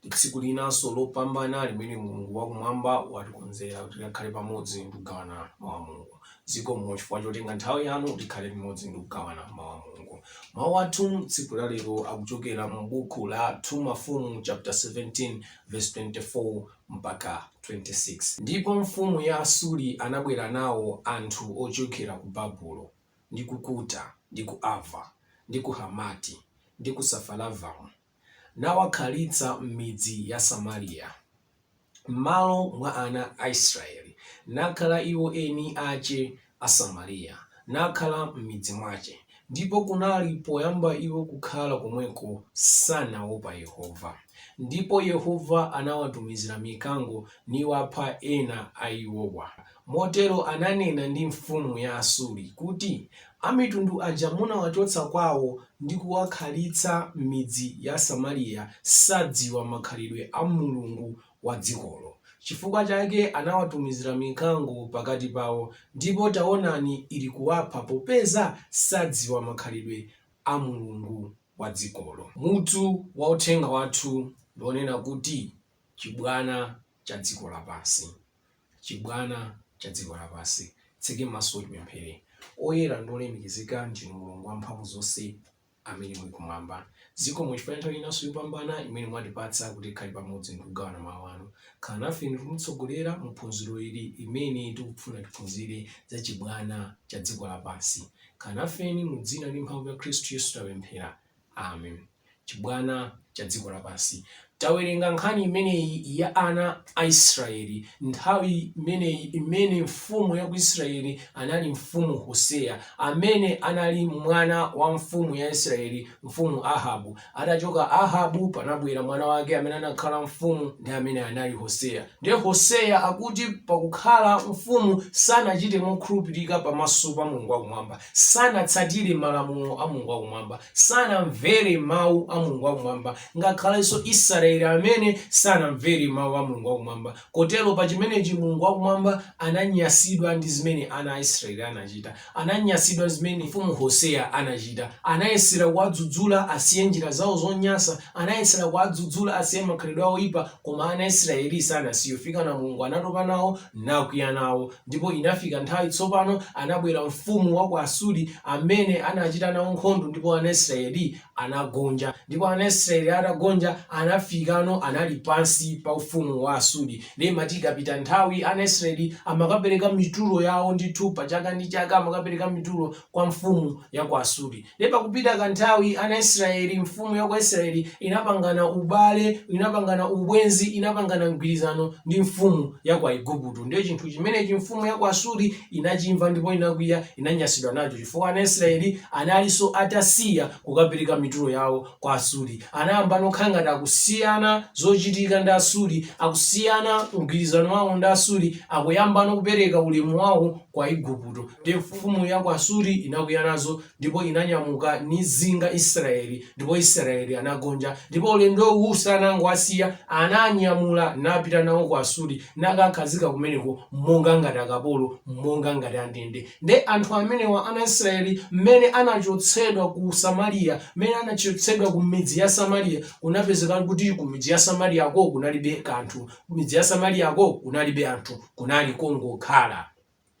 ndi tsiku linanso lopambana limene Mulungu wakumwamba watikonzera kuti tikhale pamodzi ndi kugawana mawu a Mulungu. Zikomo chifukwa chotenga nthawi yanu tikhale pamodzi ndi kugawana mawu a Mulungu. Mawu athu tsiku la lero akuchokera mu buku la 2 Mafumu chapter 17 verse 24 mpaka 26. Ndipo mfumu ya Asuri anabwera nawo anthu ochokera ku Babulo ndi ku Kuta ndi ku Ava ndi ku Hamati ndi ku Safaravamu nawakhalitsa m'midzi ya Samaria, m'malo mwa ana a Israyeli, nakhala iwo eni ache a Samaria, nakhala m'midzi mwache, ndipo kunali, poyamba iwo kukhala komweko, sanaopa Yehova, ndipo Yehova anawatumizira mikango, niwapha ena a iwowa. Motero ananena ndi mfumu ya Asuri kuti, Amitundu aja munawachotsa kwawo ndi kuwakhalitsa m'midzi ya Samariya sadziwa makhalidwe a Mulungu wa dzikolo. Chifukwa chake anawatumizira mikango pakati pawo, ndipo taonani ilikuwapha popeza sadziwa makhalidwe a Mulungu wa dzikolo. Mutu wa uthenga wathu ndi wonena kuti, Chibwana cha Dziko Lapansi. Chibwana cha dziko lapansi. Titseke maso tipemphere. Oyera ndi olemekezeka ndinu Mulungu wa mphamvu zonse amene muli kumwamba. Zikomo chifukwa cha nthawi inanso yopambana imene mwatipatsa kuti tikhale pamodzi ndi kugawana mau anu. Khala nafeni ndi kutitsogolera mu phunziro ili limene tikufuna tiphunzire za chibwana cha dziko lapansi. Khala nafeni mu dzina ndi mphamvu ya Khristu Yesu tapemphera. Amen. chibwana cha dziko lapansi. Tawerenga nkhani imeneyi ya ana a Israeli nthawi imeneyi imene mfumu ya ku Israeli anali mfumu Hoseya amene anali mwana wa mfumu ya Israeli mfumu Ahabu. Atachoka Ahabu panabwera mwana wake amene anakhala mfumu ndi amene anali Hoseya. Ndiye Hoseya akuti pakukhala mfumu sanachite mokhulupirika pamaso pa Mulungu wakumwamba. sanatsatire malamulo a Mulungu wakumwamba, sanamvere mawu a Mulungu wakumwamba, ngakhalenso Israeli amene sanamvere mawu a Mulungu wakumwamba. Kotero pa chimenechi Mulungu wakumwamba ananyasidwa ndi zimene ana a Israeli anachita, ananyasidwa zimene mfumu Hoseya anachita. Anayesera kuwadzudzula asiye njira zawo zonyansa, anayesera kuwadzudzula asiye makhalidwe awo oyipa, koma ana Israeli sanasiye. Kufikana Mulungu anatopa nawo, nakwiya nawo, Ndipo inafika nthawi tsopano, anabwera mfumu wa ku Asuri, amene anachita nawo nkhondo, ndipo ana Israeli anagonja. Ndipo ana Israeli atagonja, anafikano anali pansi pa ufumu wa Asuri. Ndiye imati ikapita nthawi, ana Israeli amakapereka mitulo yawo ndithu, pa chaka ndi chaka amakapereka mitulo kwa mfumu ya ku Asuri. Ndiye pakupita kanthawi ana Israyeli, mfumu ya ku Israyeli inapangana ubale, inapangana ubwenzi, inapangana mgwirizano ndi mfumu ya ku Aigupto. Ndiye chinthu chimenechi mfumu ya ku Asuri inachimva ndipo inakwiya, inanyasidwa nacho chifukwa ana Israyeli analinso atasiya kukapereka mitulo yawo kwa Asuri. Anayambano kukhala ngati akusiyana zochitika ndi Asuri, akusiyana mgwirizano wawo ndi Asuri, akuyambano kupereka ulemu wawo kwa Aigupto. Ndiye mfumu ya ku Asuri inakwiya nazo ndipo inanyamuka nizinga Israeli, ndipo Israeli anagonja. Ndipo ulendo uwu sanangowasiya, anawanyamula napita nawo ku Asuri, nakakhazika kumeneko monga ngati akapolo, monga ngati andende. Nde anthu amenewa ana Israeli, mmene anachotsedwa ku Samaria, mmene anachotsedwa ku midzi ya Samaria, kunapezeka kuti ku midzi ya Samariako kunalibe kanthu. Ku midzi ya Samariako kunalibe anthu, kunali kongokhala.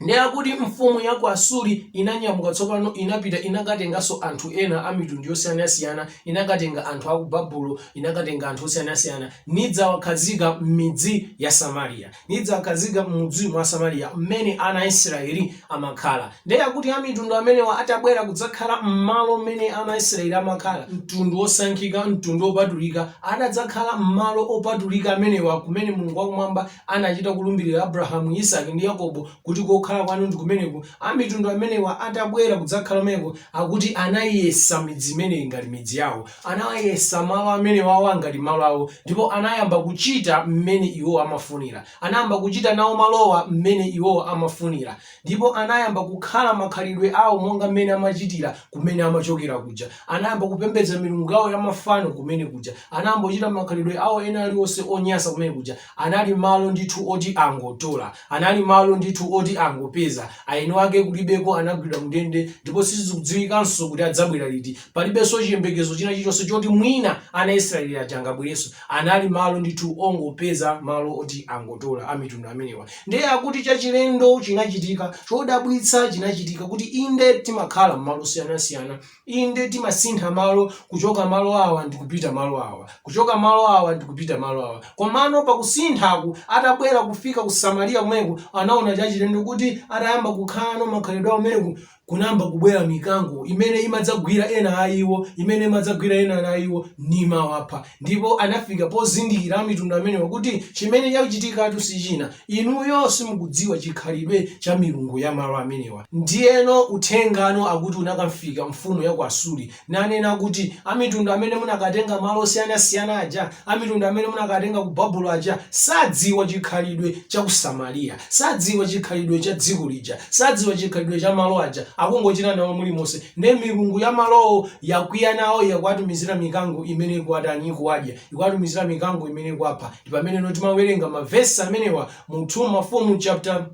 Ndiye akuti mfumu ya ku Asuri inanyamuka tsopano, inapita, inakatenganso anthu ena a mitundu yosiyanasiyana, inakatenga anthu a ku Babulo, inakatenga anthu osiyanasiyana, nidzawakhazika m'midzi ya Samariya, nidzawakhazika m'mudzi mwa Samariya mmene ana a Israeli amakhala. Ndiye akuti amitundu amenewa atabwera kudzakhala m'malo mmene ana a Israeli amakhala, mtundu wosankhika, mtundu wopatulika, atadzakhala m'malo opatulika amenewa kumene Mulungu wa Kumwamba anachita kulumbirira Abrahamu, Isake, ndi Yakobo, kuti kokhala kwanu ndi kumeneku, Amitundu amenewa atabwera kudzakhala kumeneko, akuti anaiyesa midzi imeneyi ngati midzi yawo, anawayesa malo amenewawo ngati malo awo, ndipo anayamba kuchita mmene iwowo amafunira, anayamba kuchita nawo malowa mmene iwowo amafunira. ndipo anayamba kukhala makhalidwe awo monga mmene amachitira kumene amachokera kuja. Anayamba kupembedza milungu yawo ya mafano kumene kuja. Anayamba kuchita makhalidwe awo ena aliwonse onyansa kumene kuja. Anali malo ndithu oti angotola. Anali malo ndithu oti angopeza. Aeni ake kulibeko anagwidwa mndende ndipo sizikudziwikanso kuti adzabwera liti. Palibenso chiyembekezo china chilichonse choti mwina ana Israeli aja angabwerenso. Anali malo ndithu ongopeza malo oti angotola amitundu amenewa. Ndiye akuti chachilendo chinachitika, chodabwitsa chinachitika kuti inde timakhala m'malo osiyanasiyana, inde timasintha malo kuchoka malo awa ndi kupita malo awa, kuchoka malo awa ndi kupita malo awa. Komano pakusinthaku atabwera kufika ku Samariya kumeneku anaona chachilendo kuti atayamba kukhalano makhalidwe akumeneku kunayamba kubwera mikango imene imadzagwira ena a iwo, imene imadzagwira ena a iwo nimawapha. Ndipo anafika pozindikira amitundu amenewa kuti chimene chachitikatu si china, inuyo simukudziwa chikhalidwe cha milungu ya malo amenewa. Ndiyeno uthengano akuti unakamfika mfumu ya ku Asuri, nanena kuti, Amitundu amene munakatenga malo osiyanasiyana aja, amitundu amene munakatenga ku Babulo aja, sadziwa chikhalidwe cha ku Samariya, sadziwa chikhalidwe cha dziko lija, sadziwa chikhalidwe cha malo aja, akungochita nawo mulimonse. Ndiye milungu ya malowo yakwiya nawo, yakuwatumizira mikango imene ikuwatani? Ikuwadya. Ikuwatumizira mikango imene ikuwapha. Ndi pameneno timawerenga mavesi amenewa mu 2 Mafumu chapter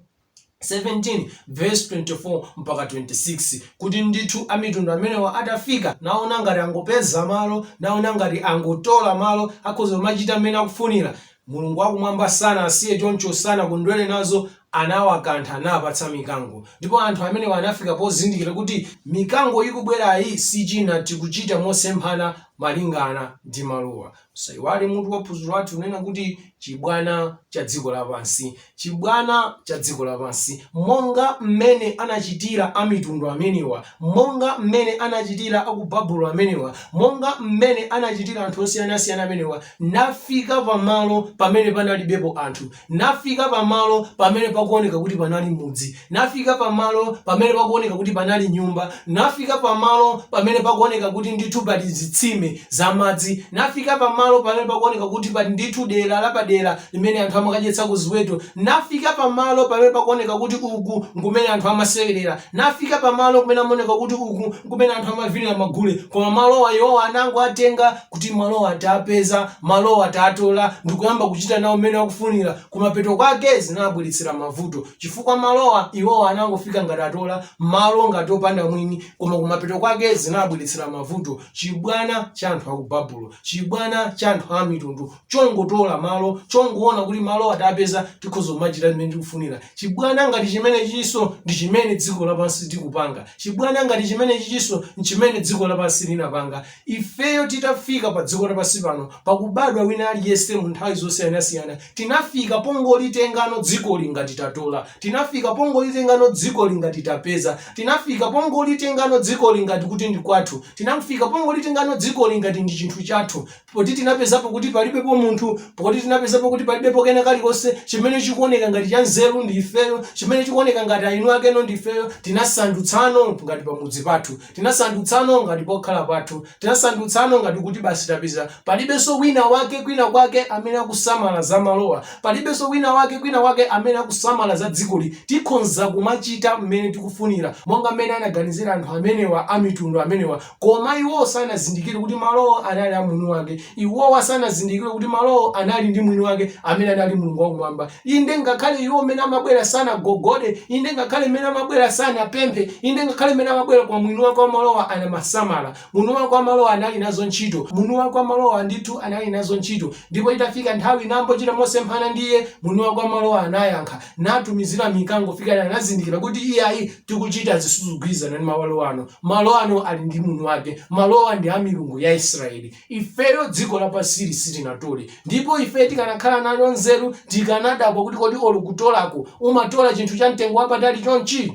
17 verse 24 mpaka 26 kuti ndithu amitundu amenewa atafika naona ngati angopeza malo naona ngati angotola malo akhoza kumachita mmene akufunira mulungu wakumwamba sanawasiye choncho sanakondwere nazo anawakantha napatsa mikango ndipo anthu amenewa anafika pozindikira kuti mikango ikubwerayi si china tikuchita mosemphana malingana ndi malowa Musaiwale mutu wa phunziro lathu lonena kuti chibwana cha dziko lapansi, chibwana cha dziko lapansi, monga mmene anachitira amitundu amenewa, monga mmene anachitira aku Babulo amenewa, monga mmene anachitira anthu osiyanasiyana amenewa, nafika pamalo pamene panalibepo anthu, nafika pamalo pamene pakuoneka kuti panali mudzi, nafika pamalo pamene pakuoneka kuti panali nyumba, nafika pamalo pamene pakuoneka kuti ndithu pali zitsime za madzi, nafika pamalo pamene pakuoneka kuti pali ndithu dera lapadera limene anthu amakadyetsako ziweto, nafika pamalo pamene pakuoneka kuti uku nkumene anthu amasewerera, nafika pamalo kumene amaoneka kuti uku nkumene anthu amavinira magule. Koma malowa iwowa anangowatenga kuti malowa tapeza, malowa tatola ndikuyamba kuchita nawo mmene akufunira kumapeto kwake zinabweretsera mavuto chifukwa malowa iwowa anangofika ngati atola malo ngati opanda mwini koma kumapeto kwake zinabweretsera mavuto chibwana cha anthu aku babulo chibwana cha anthu a mitundu chongotola malo chongoona kuti malowa tapeza tikhoza kumachita mmene tikufunira chibwana ngati chimenechiso ndi chimene dziko lapansi tikupanga chibwana ngati chimenechiso nchimene dziko lapansi linapanga Ifeyo titafika padziko lapansi pano, pakubadwa wina aliyense mu nthawi zosiyanasiyana, tinafika pongolitengano dzikoli ngati tatola, tinafika pongolitengano dzikoli ngati tapeza, tinafika pongolitengano dzikoli ngati kuti ndi kwathu, tinafika pongolitengano dzikoli ngati ndi chinthu chathu, poti tinapezapo kuti palibepo munthu, poti tinapezapo kuti palibepo kena kalikonse, chimene chikuoneka ngati chanzeru ndi ifeyo, chimene chikuoneka ngati eni akeno ndi ifeyo, tinasandutsano ngati pamudzi pathu. Tinasandutsano ngati pokhala pathu. Tinasandutsano ngati kuti basi tapeza. Palibenso winawake kwinakwake amene akusamala za malowa. Palibenso winawake kwinakwake amene akusamala za dzikoli. Tikhonza kumachita mmene tikufunira, monga mmene anaganizira anthu amenewa amitundu amenewa. Koma iwo sanazindikire kuti malowa anali a mwiniwake. Iwowa sanazindikire kuti malowo anali ndi mwini wake amene anali Mulungu wa Kumwamba. Inde, ngakhale iwo m'mene amabwera sanagogode, inde, ngakhale m'mene amabwera sanapemphe, inde, ngakhale m'mene amabwera kwa mwini wake wa malowa anamasamala. Mwini wake wa malowa anali nazo ntchito. Mwini wake wa malowa ndithu anali nazo ntchito. Ndipo itafika nthawi nambochita mosemphana ndi iye, mwini wake wa malowa anayankha. natumizira mikango m'pakana anazindikira kuti iyayi tikuchita zosagwirizana ndi malo ano malo ano ali ndi mwini wake malowa ndi a milungu ya israeli ifeyo dziko lapansili sitinatole ndipo ife tikanakhala nayo nzeru tikanadabwa kuti kodi olo kutolako umatola chinthu cha mtengo wapatali chonchi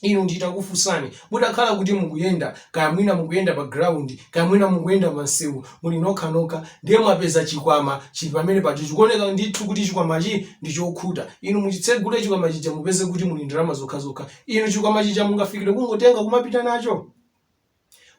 Inu nditakufunsani, mutakhala kuti mukuyenda, kaya mwina mukuyenda pa ground, kaya mwina mukuyenda pa msewu, muli nokha nokha, ndiye mwapeza chikwama chili pamene paja, chikuoneka ndithu kuti chikwamachi ndi chokhuta. Inu muchitsegule chikwama chija mupeze kuti muli ndalama zokhazokha. Inu chikwama chija mungafikire kungotenga kumapita nacho?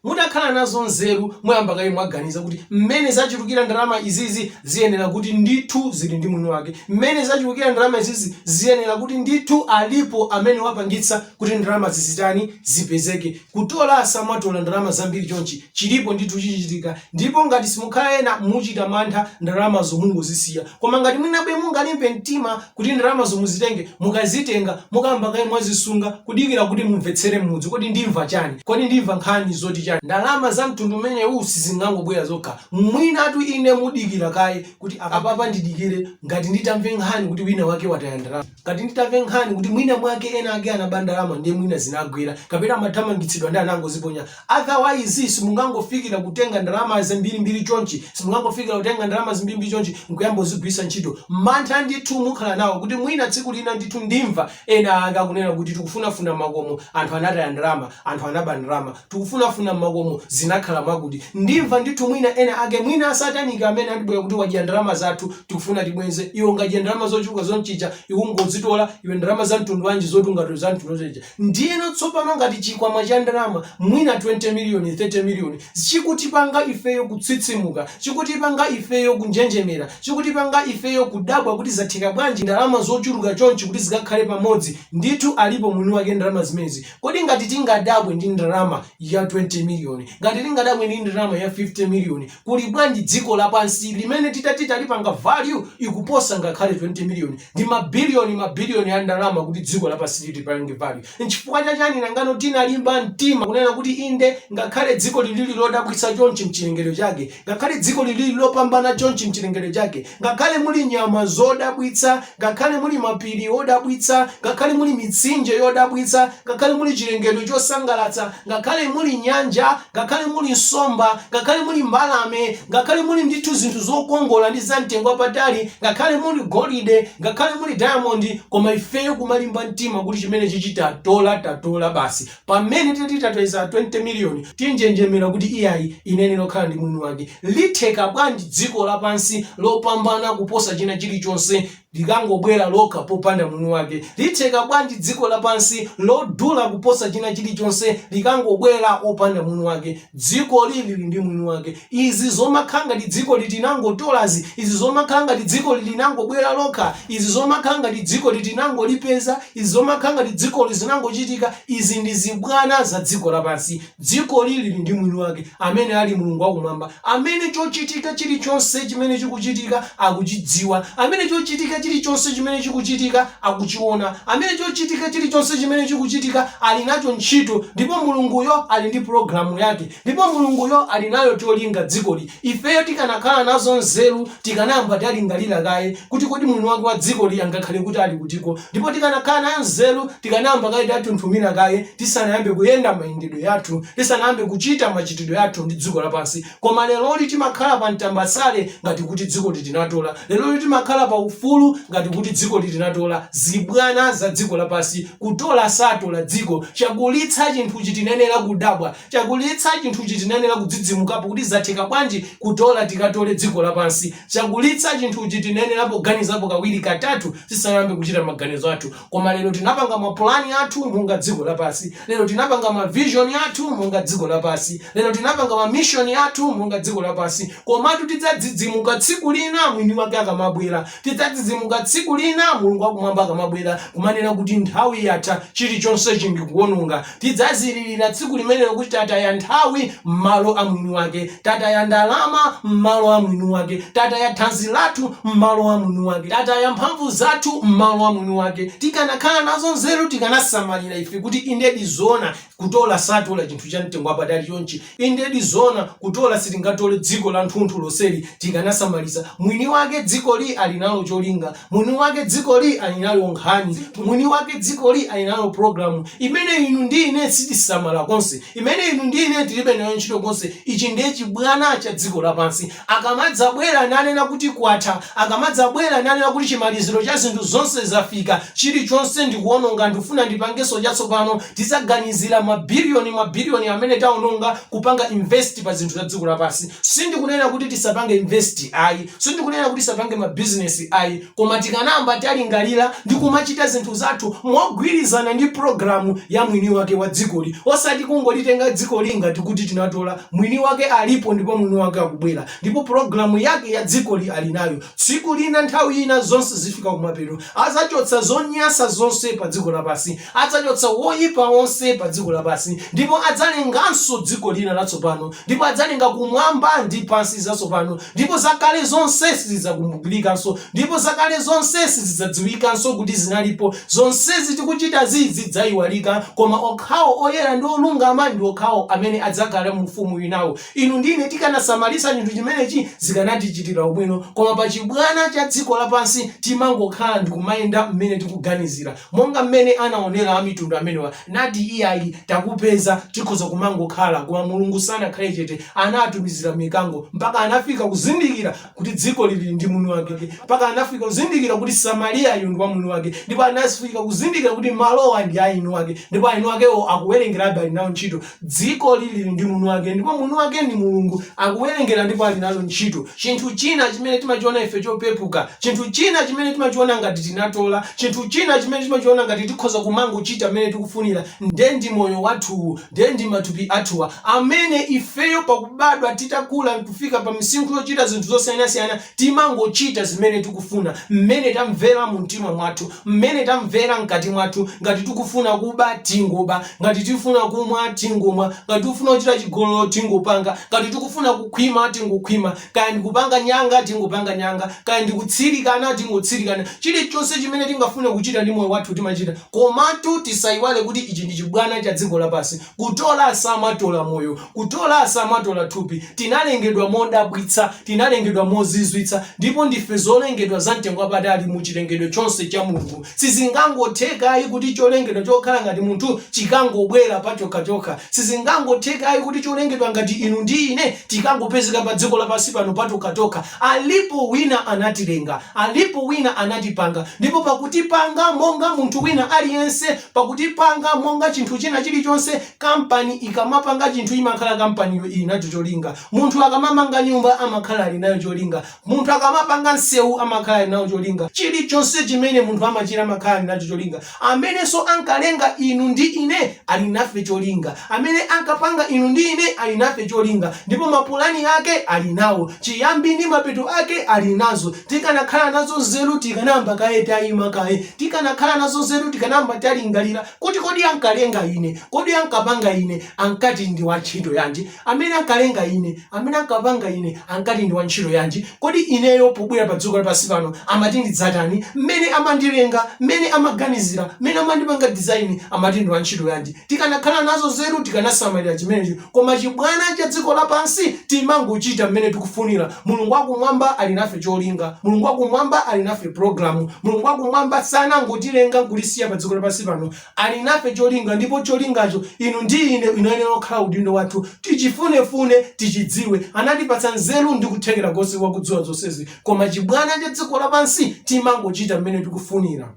Mutakhala nazo nzeru mwayamba kaye mwaganiza kuti mmene zachulukira ndalama izizi ziyenera kuti ndithu zili ndi mwini wake, mmene zachulukira ndalama izizi ziyenera kuti ndithu alipo amene wapangitsa kuti ndalama izizi zitani, zipezeke. Kutola sumatola ndalama zambiri chonchi chilipo ndithu chichitika Ndipo ngati simukhala ena muchita mantha ndalamazo mungozisiya. Koma ngati mwinabe mungalimbe mtima kuti ndalamazo muzitenge, mukazitenga, mukayamba kaye mwazisunga kudikira kuti mumvetsere m'mudzi kodi ndimva chani, kodi ndimva nkhani zoti chani. Ndalama za mtundu umenewu sizingangobwera zokha. Mwinatu inu mudikira kaye kuti apapa ndidikire ngati nditamve nkhani kuti wina wake wataya ndalama. ngati nditamve nkhani kuti mwina mwake ena ake anaba ndalama ndiye mwina zinagwera kapena amathamangitsidwa ndiye anangoziponya otherwise simungangofikira kutenga ndalama zambirimbiri chonchi simungangofikira kutenga ndalama zambirimbiri chonchi nkuyamba kuzigwiritsa ntchito mantha ndithu mukhala nawo kuti mwina tsiku lina ndithu ndimva ena ake akunena kuti tikufunafuna mmakomo anthu anataya ndalama anthu anaba ndalama tikufunafuna mmakomo zinakhala mwakuti ndimva ndithu mwina ena ake mwina asataniki amene adzabwera kuti wadya ndalama zathu tikufuna tibwenze iwe ungadye ndalama zochuluka chonchija kungozitola iwe ndalama za mtundu wanji zoti ungatola za mtundu chonchija ndiyeno tsopano ngati chikwama cha ndalama mwina 20 miliyoni 30 miliyoni chikutipanga ifeyo kutsitsimuka chikutipanga ifeyo kunjenjemera chikutipanga ifeyo kudabwa kuti zatheka bwanji ndalama zochuluka chonchi kuti zikakhale pamodzi ndithu alipo mwini wake ndalama zimenezi Kodi ngati tingadabwe ndi ndalama ya 20 million, ngati tingadabwe ndi ndalama ya 50 million, kuli bwanji dziko lapansi limene titati talipanga value ikuposa ngakhale 20 million ndi ma billion ma billion a ndalama kuti dziko lapansi tilipange value. Nchifukwa cha chani nangano tinalimba mtima kunena kuti inde ngakhale dzikoli lili lodabwitsa chonchi mchilengedwe chake, Ngakhale dzikoli lili lopambana chonchi m'chilengedwe chake, ngakhale muli nyama zodabwitsa, ngakhale muli mapiri odabwitsa, ngakhale muli mitsinje yodabwitsa, ngakhale muli chilengedwe chosangalatsa, ngakhale muli nyanja, ngakhale muli nsomba, ngakhale muli mbalame, ngakhale muli ndithu zinthu zokongola ndi zamtengo wapatali, ngakhale muli golide, ngakhale muli dayamondi, koma ifeyo kumalimba mtima kuti chimenechichi tatola, tatola basi. Pamene titatoleza 20 million tinjenjemera kuti iyayi inayenera kukhala ndi mwini wake. Litheka bwanji dziko lapansi lopambana kuposa china chilichonse likangobwera lokha popanda mwini wake? Litheka bwanji dziko lapansi lodula kuposa china chilichonse likangobwera opanda mwini wake? Dzikoli lili ndi mwini wake. Izi zomakhala ngati dzikoli tinangotolazi, izi zomakhala ngati dzikoli linangobwera lokha, izi zomakhala ngati dzikoli tinangolipeza, izi zomakhala ngati dzikoli zinangochitika, izi ndi zibwana za dziko lapansi. Dzikoli lili ndi mwini wake, amene ali Mulungu wa Kumwamba, amene chochitika chirichonse chimene chikuchitika akuchidziwa, amene chochitika chirichonse chimene chikuchitika akuchiona, amene chochitika chirichonse chimene chikuchitika ali nacho ntchito, ndipo Mulunguyo ali ndi pulogalamu yake. Ndipo Mulunguyo ali nalo cholinga dzikoli. Ifeyo tikanakhala nazo nzeru tikanayamba talingalira kaye kuti kodi mwini wake wa dzikoli angakhale kuti ali kutiko. Ndipo tikanakhala nayo nzeru tikanayamba kaye tathunthumira kaye tisanayambe kuyenda mayendedwe yathu, tisanayambe kuchita machitidwe athu ndi dziko lapansi. Koma leroli timakhala pa mtambasale ngati kuti dzikoli tinatola. Leroli timakhala pa ufulu ngati kuti dzikoli tinatola. Zibwana za dziko lapansi kutola satola dziko. Chakulitsa chinthuchi tinayenera kudabwa. Chakulitsa chinthuchi tinayenera kudzidzimukapo kuti zatheka bwanji kutola tikatole dziko lapansi. Chakulitsa chinthuchi tinayenerapo kuganizapo kawiri katatu tisanayambe kuchita maganizo athu. Koma lero tinapanga mapulani athu monga dziko lapansi. Lero tinapanga ma vision athu monga dziko lapansi. Lero tinapanga ma mission athu monga dziko lapansi. Komatu tidzadzidzimuka tsiku lina mwini wake akamabwera. Tidzadzidzimuka tsiku lina Mulungu wakumwamba akamabwera kumanena kuti nthawi yatha chilichonse ndikuononga. Tidzazililira tsiku limenelo kuti tataya nthawi m'malo a mwini wake, tataya ndalama m'malo a mwini wake, tataya thanzi lathu m'malo a mwini wake, tataya mphamvu zathu m'malo a mwini wake. Tikanakhala nazo nzeru tikanasamalira ife kuti inde ndi zoona kutola satola chinthu cha mtengo wapatali chonchi. Inde ndi zoona kutola sitingatole dziko lanthunthu lonseli tikanasamalitsa. Mwini wake dzikoli ali nalo cholinga. Mwini wake dzikoli ali nayo nkhani. Mwini wake dzikoli ali nayo pulogalamu imene inu ndi ine sitisamala konse, imene inu ndi ine tilibe nayo ntchito konse. Ichi ndiye chibwana cha dziko lapansi. Akamadzabwera nanena kuti kwatha, akamadzabwera nanena kuti chimaliziro cha zinthu zonse zafika, chirichonse ndikuwononga, ndikufuna ndipangenso chatsopano, tidzaganizira mabilioni mabilioni amene tawononga kupanga invest pa zinthu za dziko lapansi. Sindikunena kuti tisapange invest ayi, sindikunena kuti tisapange mabizinesi ayi, koma tikanayamba talingalira ndi kumachita zinthu zathu mogwirizana ndi pulogalamu ya mwini wake wa dzikoli, osati kungolitenga dzikoli ngati kuti tinatola Mwini wake alipo ndipo mwini wake akubwera ndipo programu yake ya dzikoli ali nayo tsiku lina nthawi ina zonse zifika kumapeto adzachotsa zonyasa zonse pa dziko lapansi adzachotsa woyipa onse pa dziko lapansi ndipo adzalenganso dziko lina latsopano ndipo adzalenga kumwamba ndi pansi zatsopano Ndipo zakale zonse sizidzakumbukikanso, ndipo zakale zonse sizidzadziwikanso kuti zinalipo, zonsezi tikuchitazi zidzaiwalika, koma okhawo oyera ndi olungama ndi okhawo amene adzakhale mu Ufumu winawo. Inu ndi ine tikanasamalitsa chinthu chimenechi zikanatichitira ubwino, koma pa chibwana cha dziko lapansi timangokhala ndikumayenda mmene tikuganizira, monga mmene anaonera Amitundu amenewa. Nati iyayi takupeza tikhoza kumangokhala koma Mulungu sanakhale chete anatumizira mikango mpaka anafika kuzindikira kuti dzikoli lili ndi mwini wake mpaka anafika kuzindikira kuti Samariyayu ndi wamwini wake ndipo anafika kuzindikira kuti malowa ndi aeniwake ndipo aeniwakewo akuwerengerabe ali nawo ntchito Dzikoli lili ndi mwini wake, ndipo mwini wake ndi Mulungu. Akuwerengera ndipo ali nalo ntchito. Chinthu china chimene timachiona ife chopepuka, chinthu china chimene timachiona ngati tinatola, chinthu china chimene timachiona ngati tikhoza kumangochita mmene tikufunira, ndiye ndi moyo wathuwu, ndiye ndi matupi athuwa, amene ifeyo pakubadwa titakula kufika pa misinkhu yochita zinthu zosiyanasiyana Timangochita zimene tikufuna, mmene tamvera mumtima mwathu, mmene tamvera mkati mwathu, ngati tikufuna kuba tingoba, ngati tifuna kumwa tingomwa, ngati tikufuna kuchita chigololo tingopanga, ngati tikufuna kukhwima tingokhwima, kaya ndikupanga nyanga tingopanga nyanga, kaya ndikutsirikana tingotsirikana, chilichonse chimene tingafune kuchita ndi moyo wathu timachita, komatu tisayiwale kuti ichi ndi chibwana cha dziko lapansi, Kutola samatola moyo, kutola samatola thupi, tinalengedwa modabwitsa, tinalengedwa mozizwitsa, ndipo ndife zolengedwa za mtengo wapatali mu chilengedwe chonse cha Mulungu. Sizingangotheka ayi kuti cholengedwa chokhala ngati munthu chikangobwera pachokhachokha. Sizingangotheka ayi kuti cholengedwa ngati inu ndi ine tikangopezeka pa dziko lapansi pano patokhatokha. Alipo wina anatilenga, alipo wina anatipanga, ndipo pakutipanga monga munthu wina aliyense, pakutipanga monga chinthu china chilichonse kampani ikamapanga chinthu imakhala kampaniyo ili nacho cholinga munthu akamamanga nyumba amakhala ali nayo cholinga munthu akamapanga msewu amakhala ali nawo cholinga chilichonse chimene munthu amachita amakhala ali nacho cholinga amenenso ankalenga inu ndi ine ali nafe cholinga amene ankapanga inu ndi ine ali nafe cholinga ndipo mapulani ake ali nawo chiyambi ndi mapeto ake ali nazo Tikanakhala nazo nzeru tikanayamba kaye taima kaye. Tikanakhala nazo nzeru tikanayamba talingalira kuti, Kodi ankalenga ine? Kodi ankapanga ine? Ankati ndi wantchito yanji? Amene ankalenga ine, amene ankapanga ine ankati ndi wantchito yanji? Kodi ineyo pobwera padziko lapansi pano amati ndidzatani? Mmene amandilenga, mmene amaganizira, mmene amandipanga design amati ndi wantchito yanji? Tikanakhala nazo nzeru tikanasamalira chimenechi. Koma chibwana cha dziko lapansi timangochita mmene tikufunira. Mulungu wa Kumwamba ali nafe cholinga. Mulungu wa Kumwamba ali nafe pulogalamu. Mulungu wa Kumwamba sanangotilenga nkutisiya pa dziko lapansi pano. Ali nafe cholinga, ndipo cholingacho inu ndi ine inayenera kukhala udindo wathu. Tichifunefune, tichidziwe. Anatipatsa nzeru ndi kuthekera konse kwa kudziwa zonsezi. Koma chibwana cha dziko lapansi timangochita mmene tikufunira.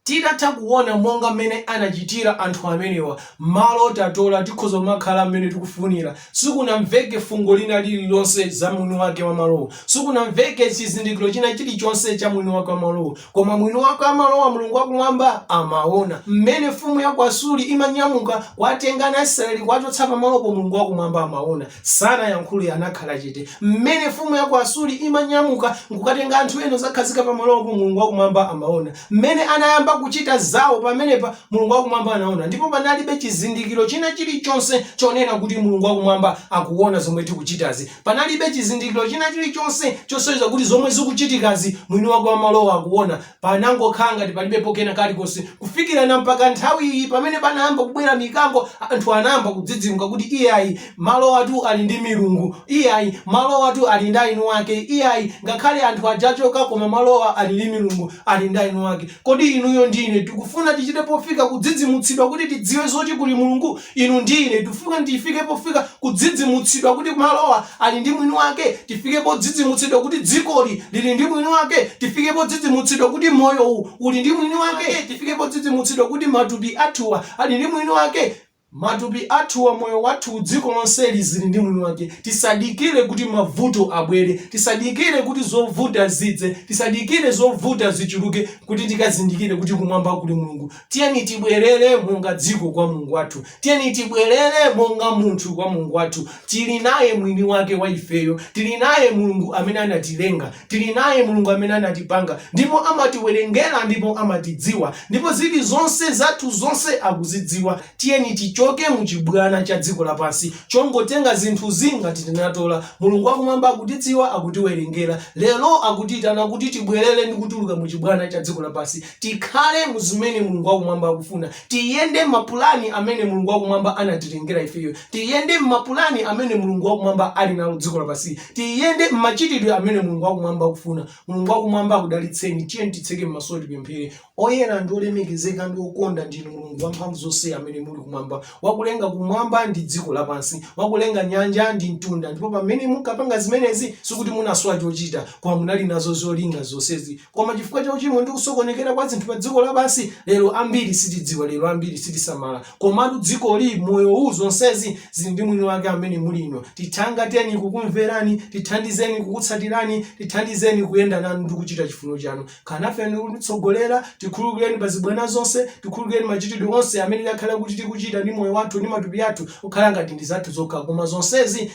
Titatha kuona monga mmene anachitira anthu amenewa, malo tatola tikhoza kumakhala mmene tikufunira. Sikunamveke fungo lina lililonse za mwini wake wa malowo. Sikunamveke chizindikiro china chilichonse cha mwini wake wa malowo. Koma mwini wake wa malowa, Mulungu wa Kumwamba, amaona. Mmene mfumu ya ku Asuri imanyamuka kuwatenga ana a Israeli kuwachotsa pamalopo, Mulungu wa Kumwamba amaona. Sanayankhule, anakhala chete. Mmene mfumu ya ku Asuri imanyamuka n'kukatenga anthu ena n'kudzakhazika pamalopo, Mulungu wakumwamba amaona. Mmene anayamba kuchita zawo pamenepa, Mulungu wakumwamba anaona. Ndipo panalibe chizindikiro china chilichonse chonena kuti Mulungu wakumwamba akuona zomwe tikuchitazi. Panalibe chizindikiro china chilichonse chosonyeza kuti zomwe zikuchitikazi mwini wake wa malowo akuona. Panangokhala ngati palibepo kena kalikonse kufikira na mpaka nthawi iyi pamene panayamba kubwera mikango, anthu anayamba kudzidzimuka kuti iyayi, malowatu ali ndi milungu, iyayi, malowatu ali ndi aini wake, iyayi, ngakhale anthu aja achoka koma malowa ali ndi milungu, ali ndi aini wake. Kodi inuyo ndi ine tikufuna tichite pofika kudzidzimutsidwa kuti tidziwe zoti kuli Mulungu? Inu ndi ine tifuna tifike pofika kudzidzimutsidwa kuti malowa ali ndi mwini wake, tifike podzidzimutsidwa kuti dzikoli lili ndi mwini wake, tifike podzidzimutsidwa kuti moyowu uli ndi mwini wake, tifike podzidzimutsidwa kuti matupi athuwa ali ndi mwini wake, matupi athuwa, moyo wathuwu, dziko lonseli zili ndi mwini wake, tisadikire kuti mavuto abwere, tisadikire kuti zovuta zidze, tisadikire zovuta zichuluke kuti tikazindikire kuti kumwamba kuli Mulungu, Tiyeni tibwerere monga dziko kwa Mulungu wathu. Tiyeni tibwerere monga munthu kwa Mulungu wathu. Tili naye mwini wake wa ifeyo. Tili naye Mulungu amene anatilenga. Tili naye Mulungu amene anatipanga ndipo amatiwerengera ndipo amatidziwa ndipo zili zonse zathu zonse akuzidziwa. Tiyeni tichoke mu chibwana cha dziko lapansi chongotenga zinthuzi ngati tinatola. Mulungu wa kumwamba akutidziwa, akutiwerengera. Lero akutiitana kuti tibwerere ndi kutuluka mu chibwana cha dziko lapansi. Tikhale mu zimene Mulungu wa Kumwamba akufuna. Tiyende mmapulani amene Mulungu wa Kumwamba anatilengera ifeyo. Tiyende mmapulani amene Mulungu wa Kumwamba ali nawo dziko lapansi. Tiyende mmachitidwe amene Mulungu wa Kumwamba akufuna. Mulungu wa Kumwamba akudalitseni. Tiyeni titseke mmaso tipemphere. Oyera ndi olemekezeka ndi okonda ndinu Mulungu wamphamvu zonse amene muli kumwamba, wakulenga kumwamba ndi dziko lapansi, wakulenga nyanja ndi mtunda. Ndipo pamene munkapanga zimenezi, sikuti munasowa chochita, koma munali nazo zolinga zonsezi. Koma chifukwa cha uchimo ndi kusokonekera kwa zinthu pa dziko lapansi, lero ambiri sitidziwa, lero ambiri sitisamala. Komatu dzikoli, moyo uwu, zonsezi zili ndi mwini wake amene muli inu. Tithangateni kukumverani, tithandizeni kukutsatirani, tithandizeni kuyenda nanu ndi kuchita chifuniro chanu. Khala nafe ndi kutitsogolera, tikhululukireni pa zibwana zonse, tikhululukireni machitidwe onse amene takhala kuti tikuchita ndi moyo wathu ndi matupi athu kukhala ngati ndi zathu zokha, koma zonsezi